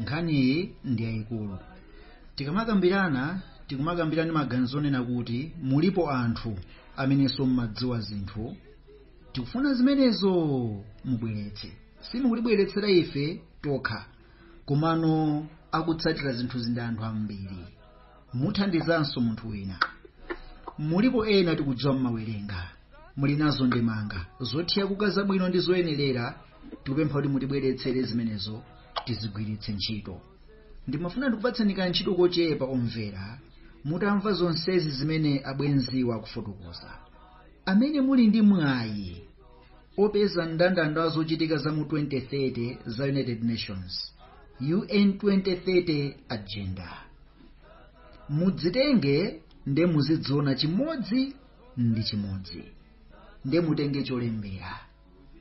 nkhaniyi ndi yayikulu tikamakambirana tikumakambirana ndi maganizo onena kuti mulipo anthu amenenso mmadziwa zinthu tikufuna zimenezo mubweretse simukutibweretsera ife tokha komano akutsatira zinthuzi ndi anthu ambiri muthandizanso munthu wina mulipo ena tikudziwa mmawerenga muli nazo ndemanga zothyakuka zabwino ndi zoyenerera tikupempha kuti mutibweretsere zimenezo tizigwiritse ntchito ndimafuna ndikupatseni ka ntchito kochepa omvera mutamva zonsezi zimene abwenziwa akufotokoza amene muli ndi mwayi opeza mndandanda wa zochitika za mu 2030 za united nations un 2030 agenda mudzitenge nde muziziona chimodzi ndi chimodzi nde mutenge cholembera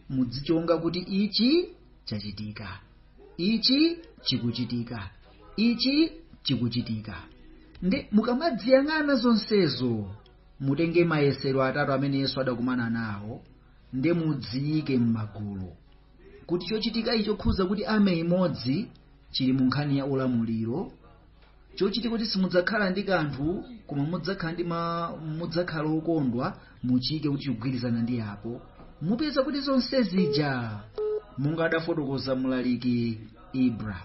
muzichonga kuti ichi chachitika ichi chikuchitika ichi chikuchitika nde mukamaziyang'ana zonsezo mutenge mayesero atatu amene yesu adakumana nawo nde muziike m'magulu kuti chochitika ichi chokhudza kuti army imodzi chili mu nkhani ya ulamuliro chochitika kuti simudzakhala ndi kanthu koma mudzakhala ndi ma mudzakhala okondwa muchiike kuti chikugwirizana ndi apo mupeza kuti zonse zija monga adafotokoza mulaliki ibra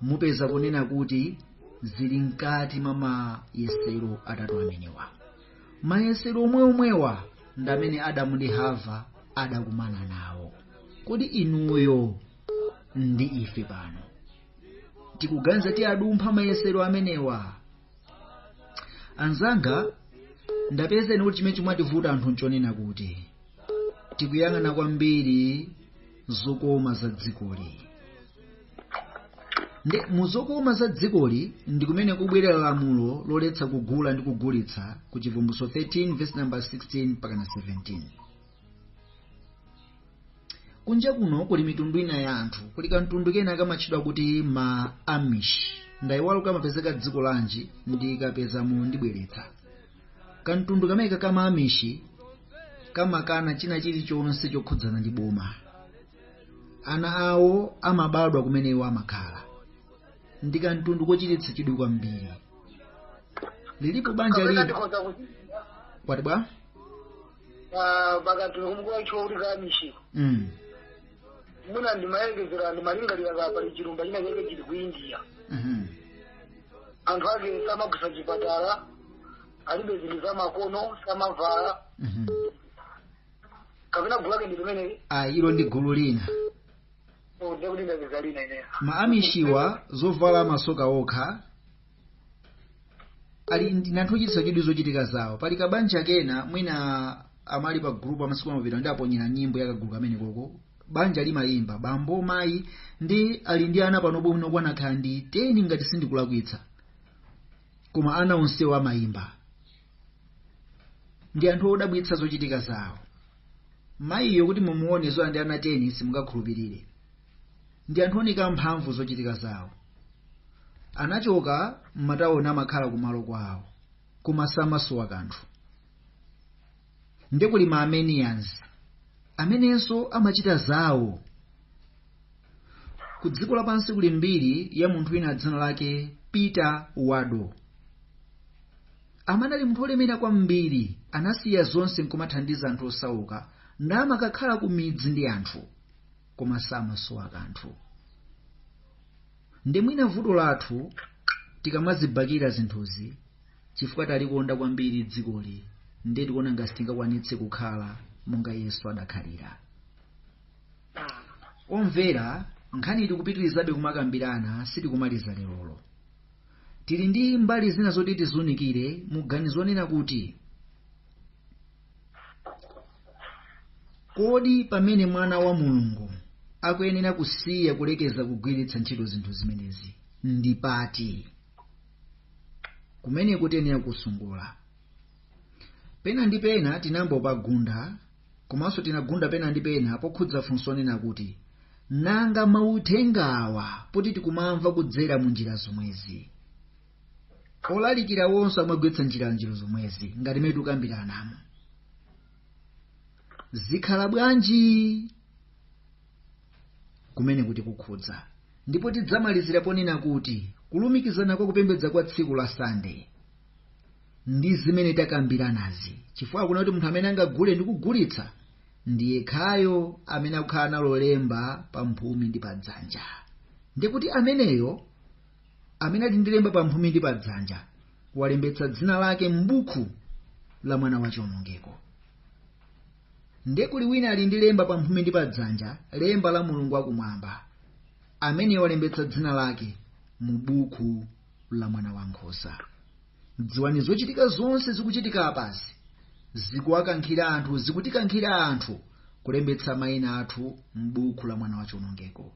mupeza kunena kuti zili mkati mwa mayesero atatu amenewa mayesero omwe omwewa ndi amene adamu ndi hava adakumana nawo kodi inuyo ndi ife pano tikuganiza tiyadumpha mayesero amenewa anzanga ndapezeni kuti chimene chimativuta anthu nchonena kuti tikuyang'ana kwambiri zokoma za dzikoli nde mu zokoma za dzikoli ndi kumene kubwerere lamulo loletsa kugula ndi kugulitsa ku chivumbulutso 13 verse number 16 mpaka na 17 Kunja kuno kuli mitundu ina ya anthu. Kuli kamtundu kena kamatchedwa kuti ma Amish. Ndaiwala kuti kamapezeka dziko lanji, ndikapeza mwayi ndibweretsa. Kamtundu kameneka ka ma Amish kamakana china chilichonse chokhudzana ndi boma. Ana awo amabadwa kumene iwo amakhala. Ndi kamtundu kochititsa chidwi kwambiri. Lilipo banja lina kwati bwa? pa- pakati kumkuwaithiwa kuti kamishi mm. muna ndimayerekezera ndimalingalira kuti pali chilumba china chake chili ku india mhm. anthu ake samagwiritsa chipatala alibe zinthu za makono samavala Mhm. kapena gulu lake ndi pamene Ah, ilo ndi gulu lina ndekuti ndapeza lina ineyo ma amishiwa amavala zovala masoka okha ali ndi anthu ochititsa chidwi zochitika zawo pali kabanja kena kake mwina amali pa group amasiku amapita ndi aponyera nyimbo ya kagulu kamene koko banja limayimba bambo mayi ndi ali ndi ana panopa mwina akukwana ndi 10 ngati sindikulakwitsa koma ana onsewo amayimba ndi anthu odabwitsa zochitika zawo mayiyo kuti mumuone zoti ali ndi ana 10 simungakhulupirire ndi anthu ooneka mphamvu zochitika zawo anachoka m'matawoni amakhala kumalo kwawo koma samasowa kanthu ndiye kuli ma armenians amenenso amachita zawo ku dziko lapansi kuli mbiri ya munthu wina dzina lake peter waldo amanali munthu olemera kwambiri anasiya zonse nkumathandiza anthu osauka namakakhala ku midzi ndi anthu koma samasowa kanthu ndiye mwina vuto lathu tikamazibakira zinthuzi chifukwa talikonda kwambiri dzikoli ndiye tikuona ngati sitingakwanitse kukhala monga yesu adakhalira omvera nkhani tikupitirizabe kumakambirana sitikumaliza lerolo tili ndi mbali zina zoti tizunikire muganizo onena kuti kodi pamene mwana wa mulungu akuyenera kusiya kulekeza kugwiritsa ntchito zinthu zimenezi ndi pati kumeneko tiyenera kusanthula pena ndi pena tinayamba tapagunda komanso tinagunda pena ndi pena pokhudza funso lonena kuti nanga mauthenga awa poti tikumamva kudzera mu njira zomwezi olalikira wonse amagwiritsa njira njira zomwezi ngati mmene tikukambiranamo zikhala bwanji kumeneko tikukhudza ndipo tidzamalizira ponena kuti kulumikizana kwa kupembedza kwa tsiku la sande ndi zimene takambiranazi chifukwa kunena kuti munthu amene angagule ndi kugulitsa ndi yekhayo amene akukhala nalo lemba pa mphumi ndi pa dzanja ndekuti ameneyo amene ali ndi lemba pamphumi ndi padzanja walembetsa dzina lake m'buku la mwana wa chiwonongeko nde kuli wina ali ndi lemba pamphumi ndi padzanja lemba la mulungu wakumwamba amene walembetsa dzina lake mu buku la mwana wa nkhosa dziwani zochitika zonse zikuchitika apazi zikuwakankhira anthu zikutikankhira anthu kulembetsa mayina athu m'buku la mwana wa chiwonongeko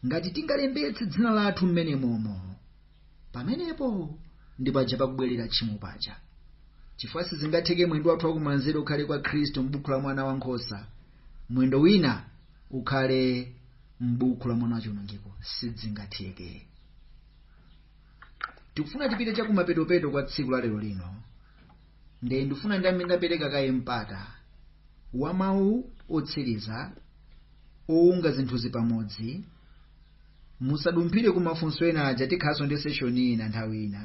ngati tingalembetse dzina lathu mmenemomo pamenepo ndi paja pakubwerera tchimo paja chifukwa sizingatheke mwendo wathu wakumanzere ukhale kwa khristu m'buku la mwana wankhosa mwendo wina ukhale m'buku la mwana wachiwonongeko sizingatheke tikufuna tipite chakumapetopeto kwa tsiku la lero lino nde ndifuna ndiyambe ndapereka kaye mpata wa mawu otsiriza owunga zinthuzi pamodzi musadumphire ku mafunso enawa aja tikhalanso ndi session ina nthawi ina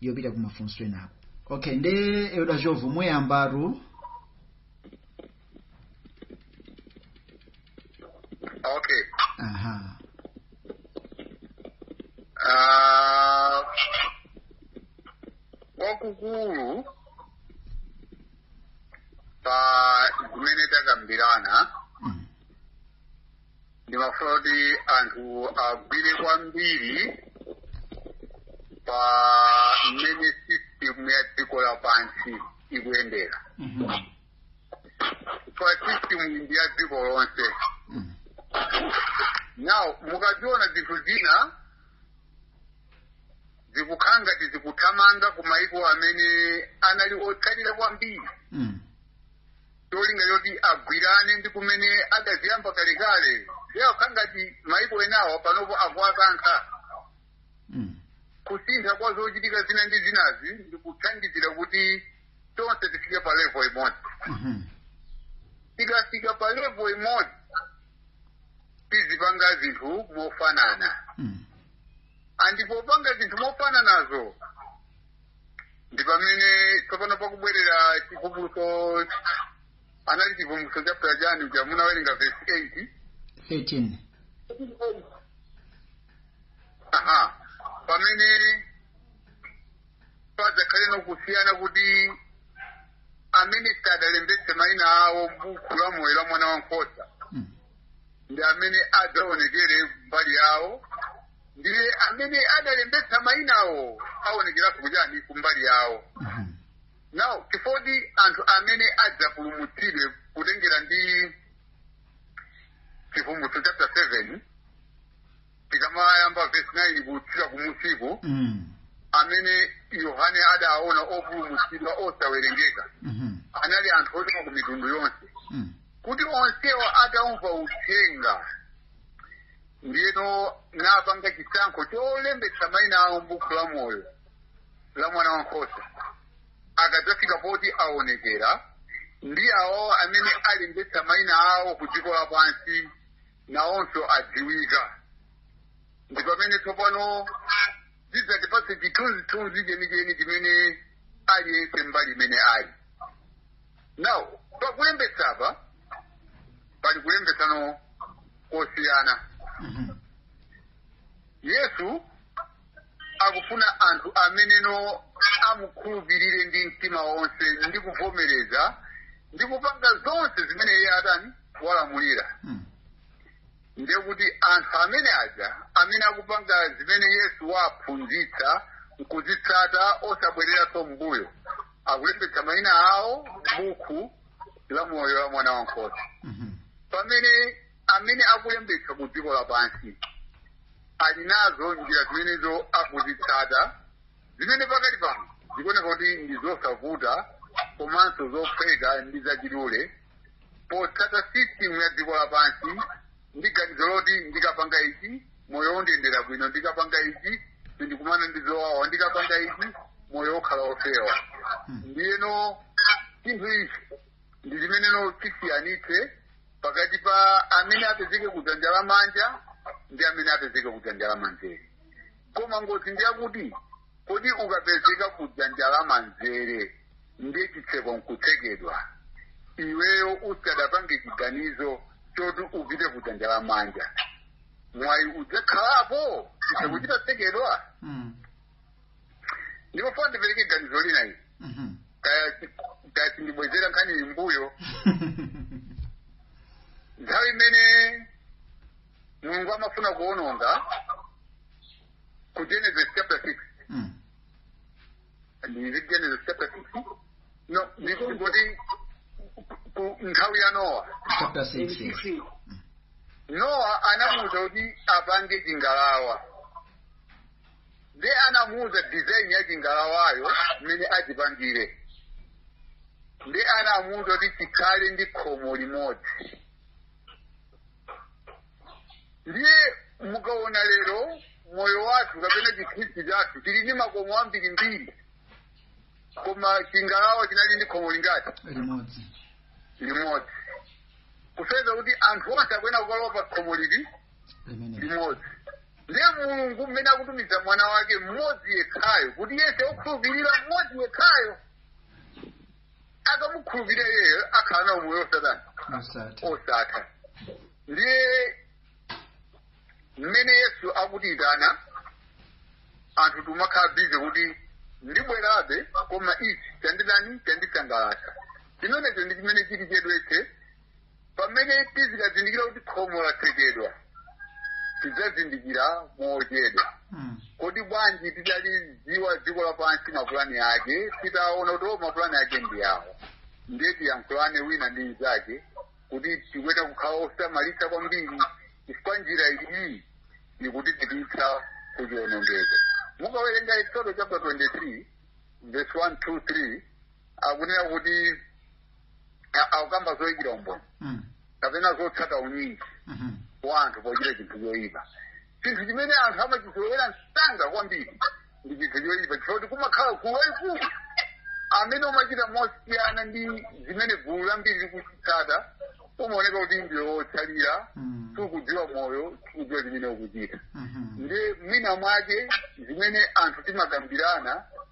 yopita ku mafunso enako okay nde elda jovu muyambatu okay aha Ah, kwakukulu pa zimene takambirana Mm. ndimafuna kuti anthu agwire kwambiri pa mmene system ya dziko lapansi ikuyendera Mhm. system ndi ya dziko lonse Mm. now mukaziona zinthu zina zikukhala ngati zikuthamanga ku maiko amene anali otsalira kwambiri Mm. cholinga choti agwirane ndi kumene adaziyamba kalekale zikukhala ngati maiko enawa panopo akuwakankha Mm. kusintha kwa zochitika zina ndi zinazi ndikuthandizira kuti tonse tifike pa level imodzi Mhm. tikafika pa level imodzi tizipanga zinthu mofanana Mm. and popanga zinthu mofananazo ndi pamene tsopano pakubwerera chivumbulutso inali chivumbulutso chapter chani uja munawerenga verse 8 13 aha pamene padzakhaleno kusiyana kuti amene sadalembetse maina awo m'buku la moyo la mwana wankhosa Mm. ndi amene adzaonekere kumbali yawo ndiye amene adalembetsa mainawo aonekeranso kuchani kumbali yawo Mhm. now chifoti anthu amene adzapulumutsidwe kutengera ndi chivumbulutso chapter 7 tikamayamba vesi 9 kutsika kumusi uku Mm. amene yohane adaona opulumutsidwa osawerengeka Mhm. anali anthu ochoka ku mitundu yonse Mm. kuti onsewo ataumva uthenga ndiyeno napanga chisankho cholembetsa maina awo m'buku la moyo la mwana wa nkhosa akadzafika poti aonekera ndi awo amene alembetsa maina awo ku dziko lapansi nawonso adziwika ndi pamene tsopano zidzatipatse chithunzithunzi chenicheni chimene aliyense mbali imene ali now pakulembetsa apa pali kulembetsano kosiyana Mhm. yesu akufuna anthu ameneno amukhulupirire ndi mtima wonse ndi kuvomereza ndi kupanga zonse zimene iye atani walamulira Mm. ndiye kuti anthu amenewa aja amene akupanga zimene yesu waphunzitsa nkuzitsata osabwereranso mbuyo akulembetsa mayina awo m'buku la moyo la mwana wankhosa Mhm. pamene amene akulembetsa ku dziko lapansi ali nazo njira zimenezo akuzitsata zimene pakali pano zikuoneka kuti ndi zosavuta komanso zophweka ndi zachidule potsata system ya dziko lapansi ndi ganizo loti ndikapanga ichi moyo undiyendera bwino ndikapanga ichi sindikumana ndi zowawa ndikapanga ichi moyo ukhala wofewa ndiyeno chinthu ichi ndi chimeneno chisiyanitse pakati pa amene apezeke kudzanja la manja ndi amene apezeke kudzanja la manzere koma ngozi ndi yakuti kodi ukapezeka kudzanja la manzere ndiye chitseko nkutsekedwa iweyo usadapange chiganizo choti upite kudzanja la manja mwayi udzakhalapo chitseko chitatsekedwa Mm. ndipo funa ndipereke ganizo lina ili Mhm. kaya kaya ndibwezere nkhani iyi mbuyo nthawi imene mulungu amafuna kuononga ku genesis chapter 6 Mm. ndi genesis chapter 6 no ndikungoti ku- nthawi ya nowa chapter 6 yes. nowa anamuuza kuti apange chingalawa nde anamuuza design ya chingalawacho mmene achipangire nde anamuuza kuti chikhale ndi khomo limodzi ndiye mukaona lero moyo wathu kapena chikhristu chathu chili ndi makomo ambirimbiri koma chingalawa chinali ndi khomo lingati limodzi limodzi kusonyeza kuti anthu onse akuyenera kukalowa pa khomo lili Amen. limodzi ndiye mulungu mmene akutumiza mwana wake mmodzi yekhayo kuti yese okhulupirira mmodzi yekhayo akamukhulupirira iyeyo akhala na umoyo osatha Osati. osatha ndiye mmene yesu akutiyitana anthu timakhala bize kuti ndibwerabe koma ichi chandidani chandisangalatsa chimenecho ndi chimene chili chedwetse pamene tizikazindikira kuti khomo latsekedwa tidzazindikira mochedwa Mm. koma bwanji tidalidziwa dziko lapansi mapulani ake titaona kuti o mapulani ake ndi awo ndiye tiyankhulane wina ndi mnzake kuti tikuyenera kukhala osamalitsa kwambiri chifukwa njira iyi ikutipititsa ku chionongeko mukawerenga eksodo chapter 23 verse 1 2 3 akunena kuti a- akukamba zoyikira umboni Mm. kapena zotsata unyinji Mhm. wa anthu pochita chinthu choyipa chinthu chimene anthu amachizolowera msanga kwambiri ndi chinthu choyipa chifukwa kuti kumakhala gulu lalikulu amene umachita mosiyana ndi zimene gulu lambiri likuitsata umaoneka kuti ndiwe wotsalira Mm. sukudziwa moyo sukudziwa zimene ukuchita Mhm. ndiye mwina mwake zimene anthu timakambirana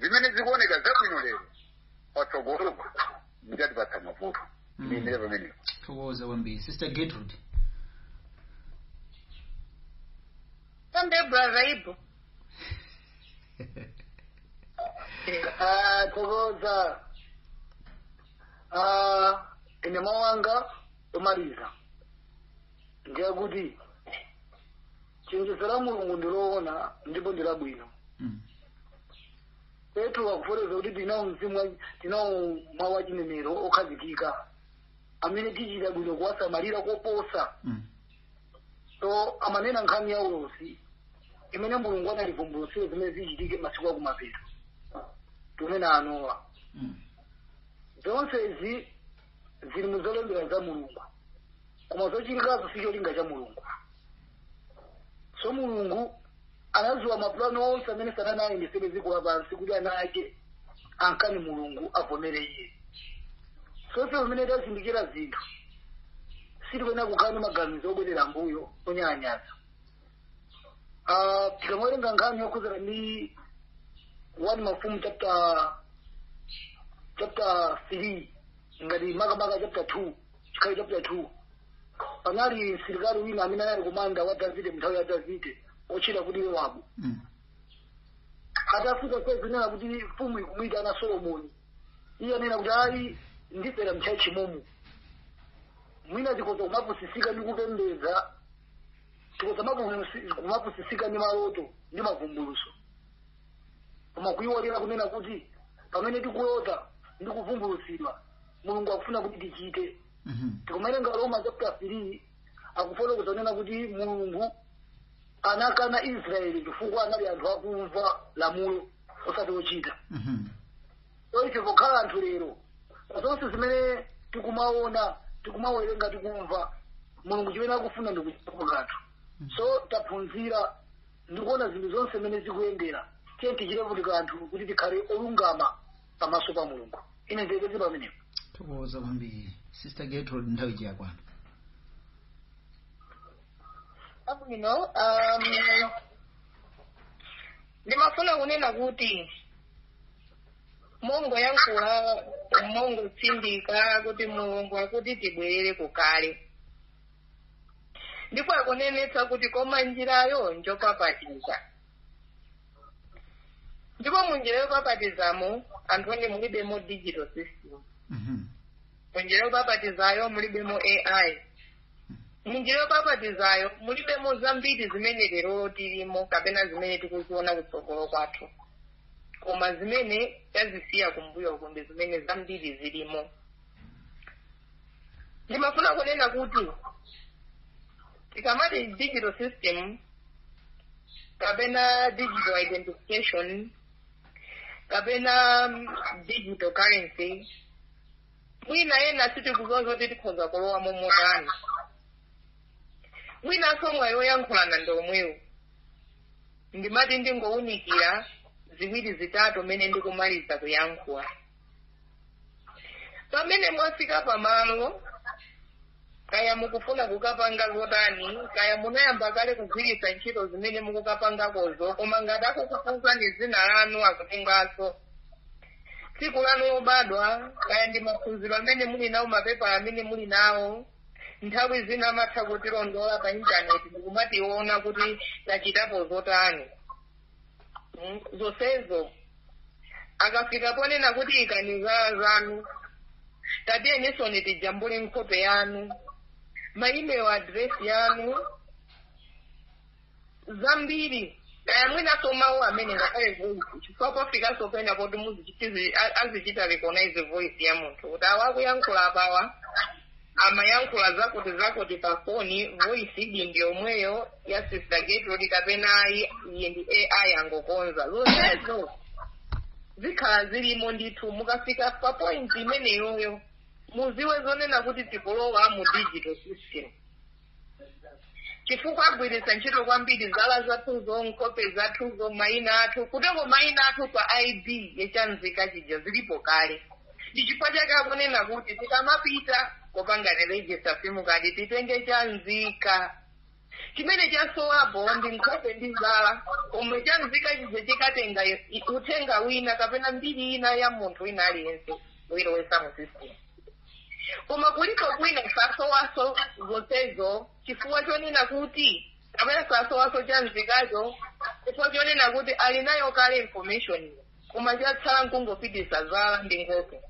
zimene zikuoneka zabwino lero patsogolopo zidzatipatsa mavuto Mm. ndilekere pamenepo thokoza kwambiri sister gertrude Sunday brother Ibu. Ah, tokoza Ah, ine mawu anga omaliza ndiyakuti chenjezo la mulungu ndi loona ndipo ndi labwino Mm. petro akufotokoza kuti tinawo mzimu wa- tinawo mawu achinenero okhazikika amene tichita bwino kuwasamalira koposa Mm. so amanena nkhani ya ulosi imene mulungu anavumbulutsira zimene zichitike masiku akumapeto tunene anowa Mm. zonsezi zili mu zolembedwa za mulungu koma zochitikazo si cholinga cha mulungu so mulungu anadziwa mapulani onse amene satana ayendesere dziko lapansi kuti ana ake amkane mulungu avomere iye so ife pamene tazindikira zinthu sitikuyenera kukhala ndi maganizo obwerera mbuyo onyalanyaza Ah, tikamawerenga nkhani yokhudzana ndi one mafumu chapter chapter three ngati makamaka chapter 2 imeneyo chapter 2 panali msilikali wina amene anali komanda wa davide mnthawi ya davide otchedwa kuti yowabu Mm. atafika kumunena kuti mfumu ikumwita a solomoni iye ananena kuti ayi ndifera mchachi momu mwina tikoza kumapusisika ndi kupembedza tikoza mapu- kumapusisika ndi maloto ndi mavumbuluso koma kuyiwalira kunena kuti pamene tikulota ndi kuvumbulutsidwa mulungu akufuna kuti tichite Mhm. tikumawerenga aroma chapter 3 akufotokoza kunena kuti mulungu anakana israeli chifukwa anali anthu akumva lamulo osati ochita Mhm. so ife pokhala anthu lero zonse zimene tikumaona tikumawerenga tikumva mulungu chimene akufuna ndikuchitapo kanthu so taphunzira ndi kuona zinthu zonse mmene zikuyendera tiyeni tichitepo kanthu kuti tikhale olungama pamaso pa mulungu ine ndilekeze pamenepo tathokoza kwambiri sister gertrude nthawi siyakwana bwino um, ndimafuna kunena kuti mongoyankhula mongotsindika kuti mulungu akuti tibwerere kukale ndipo akunenetsa kuti koma njirayo njopapatiza ndipo mu njira yopapatizamo anthu inu mulibemo digital system Mhm. mu njira yopapatizayo mulibemo ai mu njira yopapatizayo mulibemo zambiri zimene lero tilimo kapena zimene tikuziona kutsogolo kwathu koma zimene tazisiya kumbuyo uku ndi zimene zambiri zilimo ndimafuna kunena kuti tikamati digital system kapena digital identification kapena mm, digital currency mwina ena sitikuziwa zoti tikhoza kulowa momotani mwinanso mwayi woyankhulana ndi womwewu ndimati ndingowunikira ziwiri zitatu mmene ndikumaliza kuyankhula pamene mwafika pamalo kaya mukufuna kukapanga zotani kaya munayamba kale kugwiritsa ntchito zimene mukukapangakozo koma ngati akukufunzani dzina lanu akutenganso tsiku lanu lobadwa kaya ndi maphunziro amene muli nawo mapepala amene muli nawo nthawi zina amatha kutilondola pa intaneti ndikumationa kuti tachitapo zotani Mm, zonsezo akafika ponena kuti ikani zala zanu tationetseni tijambule nkhope yanu ma email address yanu zambiri kaya mwinaso mawu amene ngakhale voice chifukwa pafikanso pena poti muzichitizi- a- azichita recognize voice ya munthu kuti awa akuyankhula apawa amayankhula zakuti zakuti pa foni voiceyi ndi yomweyo ya sister gertrude kapena ayi iyi ndi ai angokonza zonsezo zikhala zilimo ndithu mukafika pa point imeneyoyo mudziwe zonena kuti tikulowa mu digital system chifukwa agwiritsa ntchito kwambiri zala zathuzo nkhope zathuzo mayina athu kutenga mayina athu pa id yachanzika chija zilipo kale ndi chifukwa chake akunena kuti tikamapita kukapanga register simukadi titenge chanzika chimene chasowapo ndi nkhope ndi zala pomwe chanzika chija chikatenga i- uthenga wina kapena mbiri ina ya munthu wina aliyense nkuilowetsa mu system koma kuli kwina safunanso zonsezo chifukwa chonena kuti kapena safunanso chanzikacho chifukwa chonena kuti ali nayo kale information koma chatsala nkungodinditsa zala ndi nkhope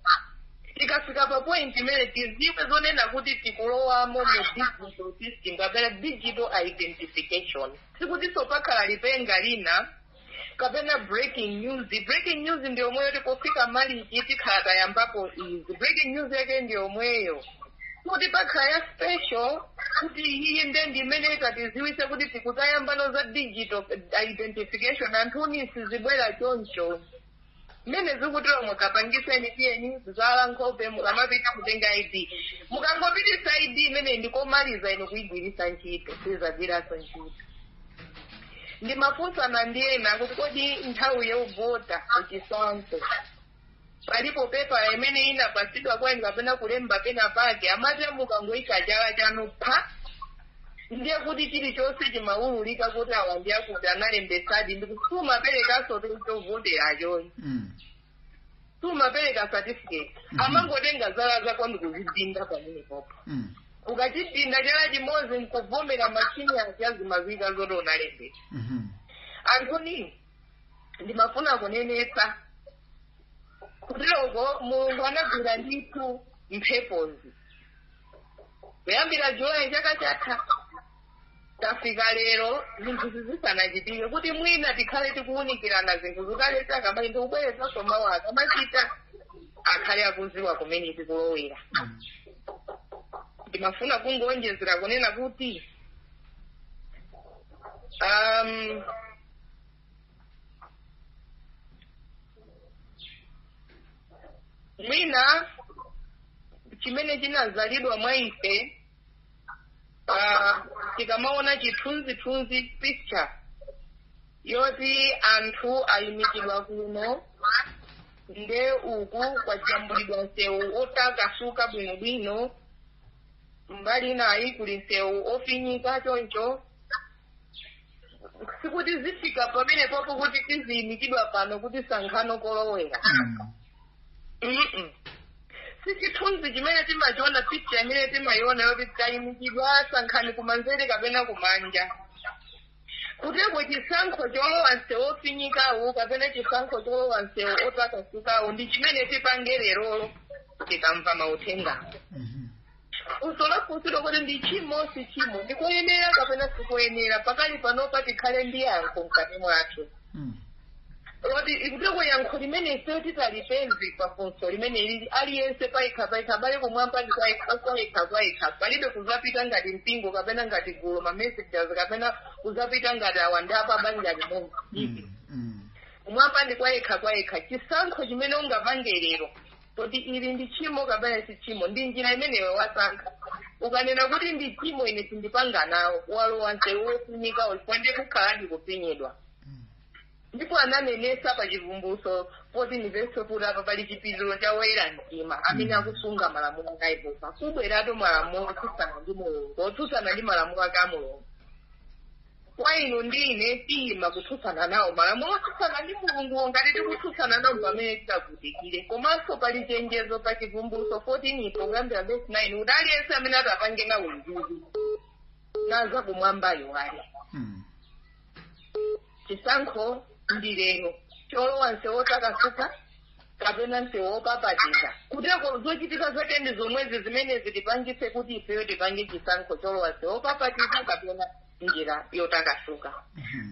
tikafika pa point imene tidziwe zonena kuti tikulowamo mu digital system kapena digital identification sikutinso pakhala lipenga lina kapena breaking news breaking news ndi yomweyo tikufika malichi tikhala tayambako izi breaking news yake ndi yomweyo kuti pakhala ya special kuti iyiyi nde ndi imene itatidziwitse kuti tikudzayamba za digital identification anthu inu sizibwera choncho mmene zikuteromo kapangitseni renew zala nkhope mukamapita kutenga id mukangopereka id imene ndikomaliza ine kuyigwiritsa ntchito sidzagwiranso ntchito ndimafunsana ndi ena kuti kodi nthawi yovota chifukwanso palibe pepala imene munapatsidwa kwa ndani kapena kulemba pena pake amati mukangoika chala chanu pa ndiye kuti chilichonse chimawululika kuti awa ndi akuti analembetsadi ndipo sumaperekanso chovoteracho ayi Mm. sumapereka certificate Mhm. amangotenga zala zako ndikuzidinda pamenepo Mm. ukachidinda chala chimodzi nkuvomera machini aja zimadziwika zoti unalembetsa Mhm. anthu inu ndimafuna kunenetsa kutidi mulungu anagwira ndithu mphepozi kuyambira julayi chaka chatha tafika lero zinthu izi zisanachitike kuti mwina tikhale tikuwunikirana zinthu zikalasika mayi ndikubwerezanso mawu akamachita akhale akudziwa kumene tikulowera ndimafuna kungowonjezera kunena kuti um, mwina chimene chinazalidwa mwa ife tikamaona chithunzithunzi picture yoti anthu ayimikidwa kuno nde uku kwajambulidwa msewu otakasuka bwinobwino mbali inayi kuli msewu ofinyika choncho sikuti zifika pamene popo kuti tiziyimikidwa pano kuti sankhano kolowera si chithunzi chimene timachiona picha imene timayiona yoti tayimikidwa sankhani kumanzere kapena kumanja kuteroko chisankho cholowa msewu ofinyikawo kapena chisankho cholowa msewu otakasukawo ndi chimene tipange lerolo tikamva mauthengawo funso lafunsidwa kuti ndi chimo si chimo ndikoyenera kapena sikoyenera pakali panopa tikhale ndi yankho mkati mwathu loti kuteroko yankho limene ifeyo titalipeze pa funso limene lili aliyense payekha payekha abale kumwamba ndi kwayekha kwayekha palibe kuzapita ngati mpingo kapena ngati gulu la message kapena kuzapita ngati awa nda pa banja limodzi kumwamba ndi kwayekha kwayekha chisankho chimene ungapange lero Kodi ili ndi tchimo kapena si tchimo? Ndi njira imene iwe wasankha. Ukanena kuti ndi tchimo, ine sindipanga nawo, walowa msewu wofunika uyu, ndipo kukhaladi kufinyidwa. Ndipo ananenesa pa Chivumbulutso 14 vesi 4 kuti apa pali chipiriro cha woyera mtima amene akusunga malamulo a Yehova. Kubweratu malamulo otsutsana ndi Mulungu, otsutsana ndi malamulo ake a Mulungu. koma inu ndi ine tiyima kutsutsana nawo malamulo otsutsana ndi mulunguwo ngati tikutsutsana nawo pamene titagonjere komanso pali chenjezo pa chivumbulutso 14-po kuyambira vesi 9 kuti aliyense amene atapange nawo mzuzu naye za kumwamba ayiwale chisankho ndi lero cholowa nsewu otakasuka kapena msewu wopapatiza kuteroko zochitika zake ndi zomwezi zimene zitipangitse kuti ifeyo tipange chisankho cholowa msewu wopapatiza kapena njira yotakasuka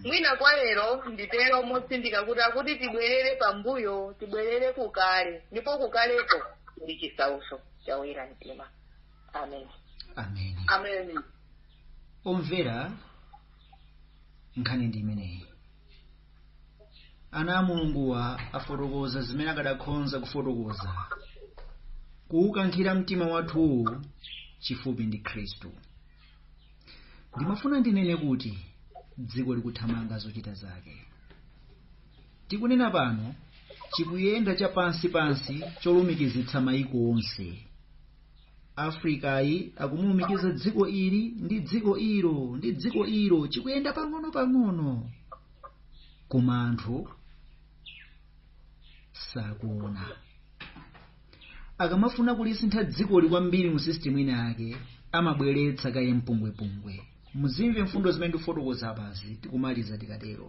mwina kwa lero nditero motsindika kuti akuti tibwerere pambuyo tibwerere kukale ndipo kukaleko ndi chisautso cha oyera mtima amen amen omvera nkhani ndi imeneyi ana a mulunguwa afotokoza zimene akadakhonza kufotokoza kuwukankhira mtima wathuwu chifupi ndi khristu ndimafuna ndinene kuti dziko likuthamanga zochita zake tikunena pano chikuyenda chapansi pansi cholumikizitsa mayiko onse afrikayi akumulumikiza dziko ili ndi dziko ilo ndi dziko ilo chikuyenda pang'ono pang'ono koma anthu sakuona akamafuna kulisintha dzikoli kwambiri mu system ina yake amabweretsa kaye mpungwepungwe muzimve mfundo zimene ndikufotokoza apazi tikumaliza tikatero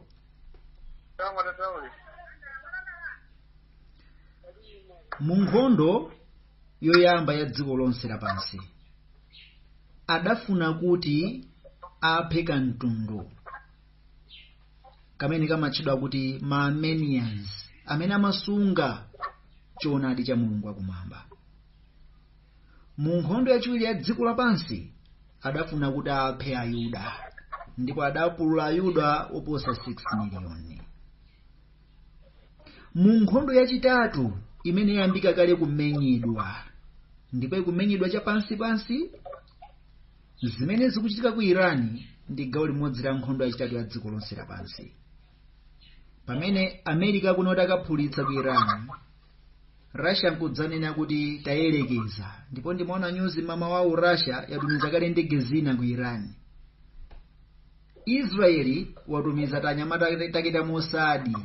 mu nkhondo yoyamba ya dziko lonse lapansi adafuna kuti aphe kamtundu kamene kamatchedwa kuti maarmenians amene amasunga choonadi cha mulungu wakumwamba mu nkhondo yachiwiri ya dziko lapansi adafuna kuti aphe ayuda ndipo adapulula ayuda oposa 6 miliyoni mu nkhondo yachitatu imene yayambika kale kumenyedwa ndipo ikumenyedwa chapansipansi zimene zikuchitika ku iran ndi gawo limodzi la nkhondo yachitatu ya dziko lonse lapansi pamene america akunati akaphulitsa ku iran russia nkudzanena kuti tayerekeza ndipo ndimaona nyuzi mmawa uno russia yatumiza kale ndege zina ku iran israeli watumiza tanyamata take ta mosadi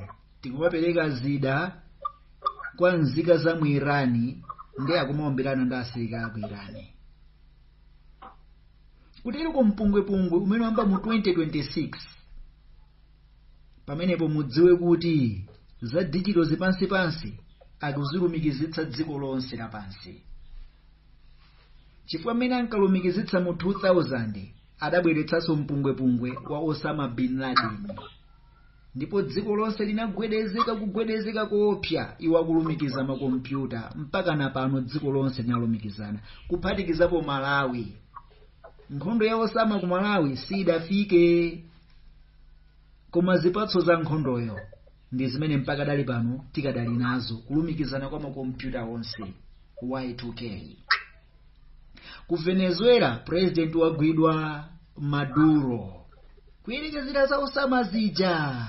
tikumapereka zida kwa nzika za mu irani nde akumaombelana ndi asilikali aku irani kuteroko mpungwepungwe umene wayamba mu 2026 pamenepo mudziwe kuti za dijitozi pansipansi akuzilumikizitsa dziko lonse lapansi chifukwa mmene ankalumikizitsa mu 2000 adabweretsanso mpungwepungwe wa osama bin laden ndipo dziko lonse linagwedezeka kugwedezeka koopsa iwo akulumikiza makompyuta mpaka na pano dziko lonse linalumikizana kuphatikizapo malawi nkhondo ya osama ku malawi sidafike koma zipatso za nkhondoyo ndi zimene mpakadali pano tikadali nazo kulumikizana kwa makompyuta onse y2k ku venezuela president wagwidwa maduro kuyerekezera za osama zija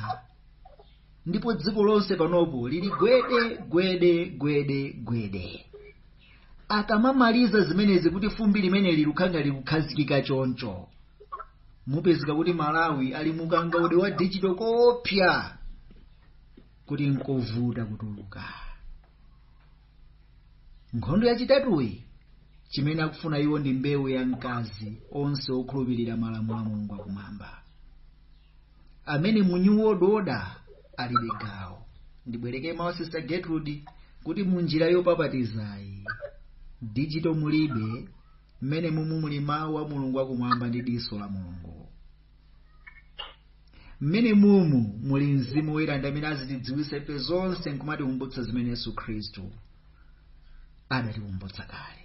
ndipo dziko lonse panopo lili gwede gwede gwede gwede akamamaliza zimenezi kuti fumbi limeneli likhala likukhazikika choncho mupezeka kuti malawi ali mukangaude wa digital koopsa kuti nkovuta kutuluka nkhondo yachitatu chimene akufuna iwo ndi mbewu ya mkazi onse okhulupirira malamulo a mulungu akumwamba amene mu new world order alibe gawo ndibwereke mawu a sister gertrude kuti mu njira yopapatizayi digital mulibe mmene mumu muli mawu a mulungu akumwamba ndi diso la mulungu mmene mumu muli mzimu woyera ndi amene azitidziwitsa ife zonse nkumatikumbutsa zimene yesu khristu adatikumbutsa kale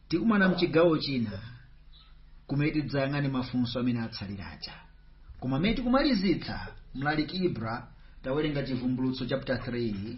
tikumana mchigawo china kumene tidzayang'ane mafunso amene atsalira aja koma mmene tikumalizitsa mlaliki ibra tawerenga chivumbulutso chapter 3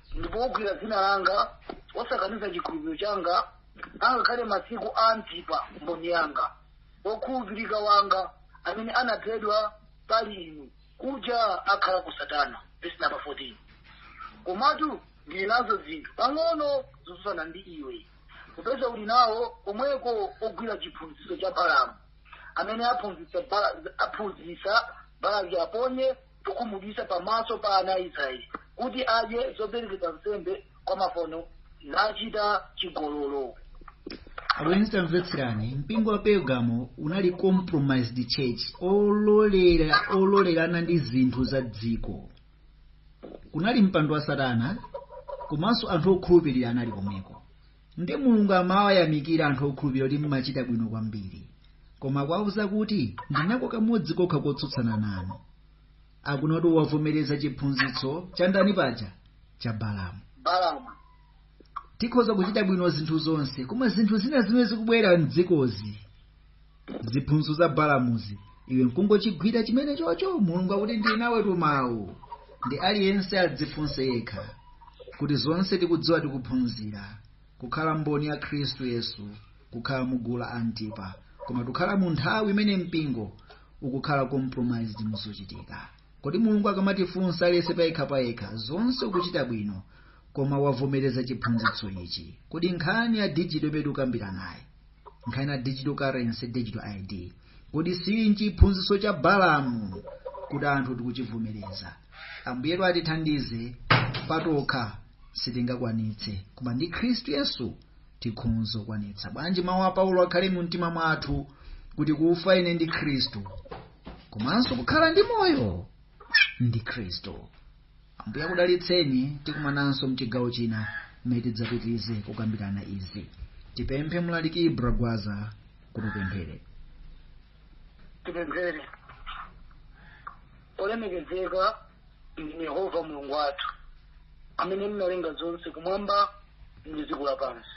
ndipo wogwira dzina langa wosakaniza chikhulupiriro changa angakhale masiku a antipa mboni yanga wokhulupirika wanga amene anaphedwa pali inu kuja akhala ku satana vesi namba 14 komatu ndili nazo zinthu pang'ono zotsutsana ndi iwe popeza uli nawo komweko ogwira chiphunzitso cha balamu amene aphunzitsa Bala- aphunzitsa balaki aponye chokhumudwitsa pamaso pa ana a Israeli kuti adye zoperekedwa nsembe kwa mafano nachite chigololo abwenzi tamvetserani mpingo wa pergamo unali compromised church ololera ololerana ndi zinthu za dziko kunali mpando wa satana komanso anthu okhulupirira anali komweko Nde mulungu amawayamikira anthu okhulupirira kuti mmachita bwino kwambiri. Koma akuwauza kuti ndinako kamodzi kokha kotsutsana nanu. Akunena kuti wavomereza chiphunzitso cha ndani paja? Cha Balamu. Balamu. Tikhoza kuchita bwino zinthu zonse, koma zinthu zina zimene zikubwera m'dzikozi ziphunzitso za balamuzi iwe nkungochigwira chimenechocho mulungu akuti ndili nawe tumawu nde aliyense adzifunse yekha kuti zonse tikudziwa tikuphunzira kukhala mboni ya khristu yesu kukhala mu gulu la antipa koma tukhala mu nthawi imene mpingo ukukhala compromised muzochitika kodi mulungu akamatifunsa aliyense payekha payekha zonse ukuchita bwino koma wavomereza chiphunzitso ichi kodi nkhani ya dijito imene tikukambiranayi nkhani ya digital currency digital id kodi siili nchiphunzitso cha balamu kuti anthu tikuchivomereza ambuyetu atithandize patokha sitingakwanitse koma ndi khristu yesu tikhonza kukwanitsa bwanji mawu a paulo akhale mu mtima mwathu kuti kufa ine ndi khristu komanso kukhala ndi moyo ndi khristu ambuye akudalitseni tikumananso mchigawo china mmene tidzapitirize kukambirana izi tipemphe mlaliki ibra gwaza kuti apemphere tipemphere olemekezeka ndinu yehova mulungu wathu amene munalenga zonse kumwamba ndi dziko lapansi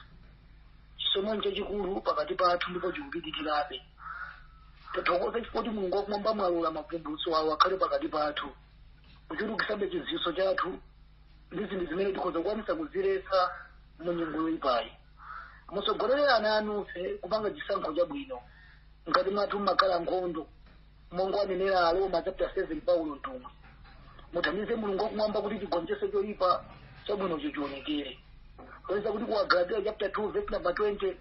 chisomo chachikulu pakati pathu ndipo chikupitirirabe tathokoza chifukwa kuti mulungu wakumwamba mwalola mavumbulutso awo akhale pakati pathu kuchulukitsabe chidziwitso chathu ndi zinthu zimene tikhoza kukwanitsa kuziletsa mu nyengo yoyipayi mutsogolere ana anu kupanga chisankho chabwino ngati mwathu mmakhala nkhondo monga anenera aroma chapter 7 paulo mtumwi mutithandize mulungu wakumwamba kuti tigonjetse choyipa chabwino chionekere poyesa kuti ku agalatiya chapter 2 verse number 20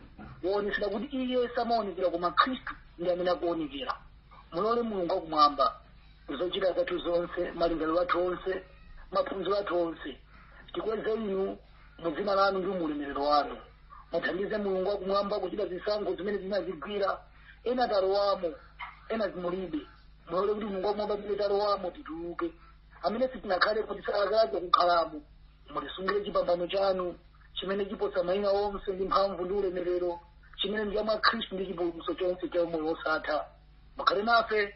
waonetsera kuti iye samaonekera koma khristu ndi amene akuonekera mulole mulungu wakumwamba zochita zathu zonse malingaliro athu onse maphunziro athu onse tikweze inu mu dzina lanu ndi muulemerero wanu mutithandize mulungu wakumwamba kuchita zisankho zimene zina zigwira ena talowamo ena zimulibe mulole kuti mulungu wakumwamba zimene talowamo tituluke zimene sitinakhale kuti tisalakalakenso kukhalamo mutisungire chipambano chanu chimene chiposa mayina onse ndi mphamvu ndi ulemerero chimene ndi cha mwa khristu ndi chipulumutso chonse cha umoyo wosatha mukhale nafe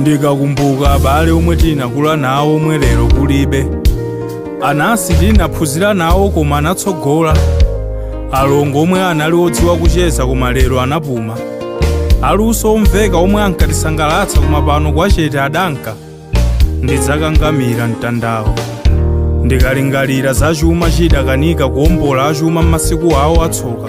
ndikakumbuka abale omwe tinakula nawo omwe lero kulibe anansi tinaphunzira nawo koma anatsogola alongo omwe anali odziwa kucheza koma lero anapuma aluso omveka omwe ankatisangalatsa koma pano kumsitu wachete adanka ndidzakangamira mtandawo ndikalingalira za chuma chidakanika kuombola achuma m'masiku awo atsoka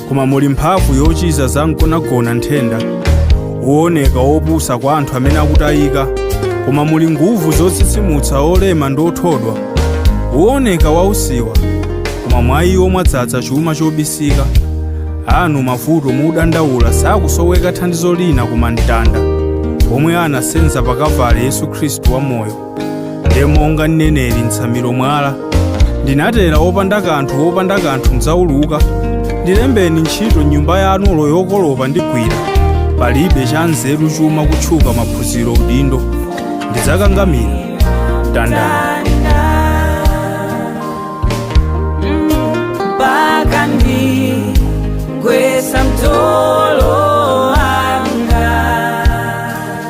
koma muli mphamvu yochiza za mgonagona nthenda wooneka wopusa kwa anthu amene akutayika koma muli nguvu zotsitsimutsa olema ndi othodwa wooneka wausiwa koma mwa iwo mwadzadza chuma chobisika anthu amavuto mudandaula sakusoweka thandizo lina koma mtanda omwe anasenza pa kavali yesu khristu wamoyo ndiye monga mneneri mtsamiro mwala ndinabwera opanda kanthu wopanda kanthu ndidzatuluka ndilembeni ntchito nyumba yanu olo yokolopa ndigwira palibe cha nzeru chuma kutchuka maphunziro udindo ndidzakangamira mtandawo mpaka ndigwesa mtolo